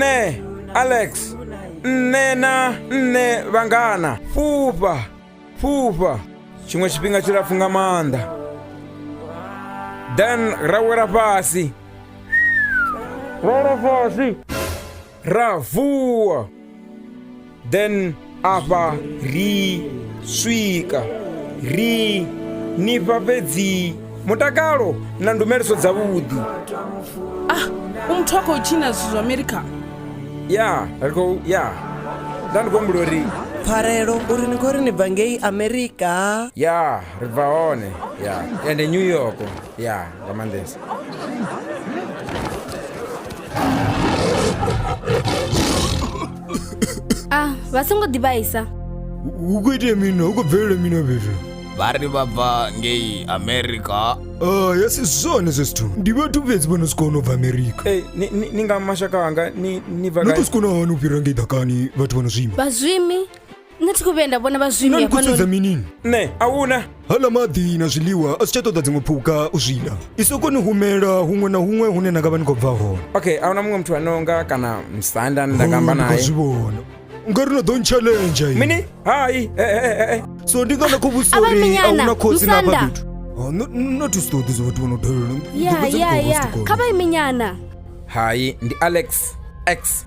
nṋe alex nṋe na nṋe vhangana fhufha fhufha tshiṅwe tshifhinga tshilapfu nga maanḓa then ra wela fhasi ra wela fhasi ra vuwa then afha ri swika ri nifha fhedzi mutakalo na ndumeliso dza vhuḓi ah u muthu a khou tshina zwithu zwa america ya ri khou ya nda ndi khou humbula uri pfarelo uri ni khou ri ni bva ngei amerika ya ri bva hone ya ende new york ya nga maanḓesa a ah, vha songo ḓivhaisa hu khou itea mini hu khou bvelela mini fhethu vha ri vha bva ngei amerika a ah, ya si zwone zwe zwithu ndi vhathu fhedzi vho no si kona u bva amerika eh, ni nga mashaka anga ni bva no to si kona hani u fhira ngei ḓakani vhathu vho no zwima vhazwimi nṋe thi khou vhuya nda vhona vhazwimi nani khou sedza minini nṋe a huna hala maḓi na zwiḽiwa a si tsha ṱoḓa dziṅwe phuka u zwi ḽa i sokoni humela huṅwe na huṅwe hune na nga vha ni khou bva hone okay a huna muṅwe muthu ano nga kana musanda nda nga amba naye zwi vhona nga ri no ḓo ntshalenja mini hai eh, eh, eh, so ndi nga na khou vhusa uri a huna khotsi na vha fhethu oh, no thusi ṱoḓi zwa vhathu vho no dalela ya ya ya kha vha iminyana hai ndi alex x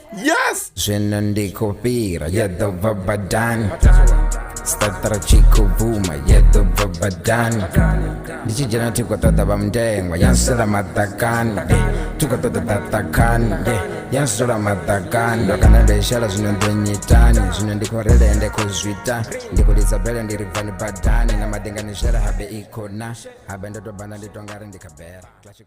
Yes! Zwino ndi khou fhira ya ḓo bva badani Statara tshi khou bvuma ya ḓo bva badani Ndi tshi dzhena thi khou ṱoḓa vha mundengwa ya nsula maḓakani eh, Thi khou ṱoḓa ḓaḓakani yeah, ya nsula maḓakani Ndo kana ndo i shela zwino ndo nyitani Zwino ndi khou rele ende khou zwita Ndi khou lidza bele ndi ri bvani badani Na maḓi nga ni shela habe i khou na Habe ndo tou banda ndi tou nga ri ndi kha bera Classic-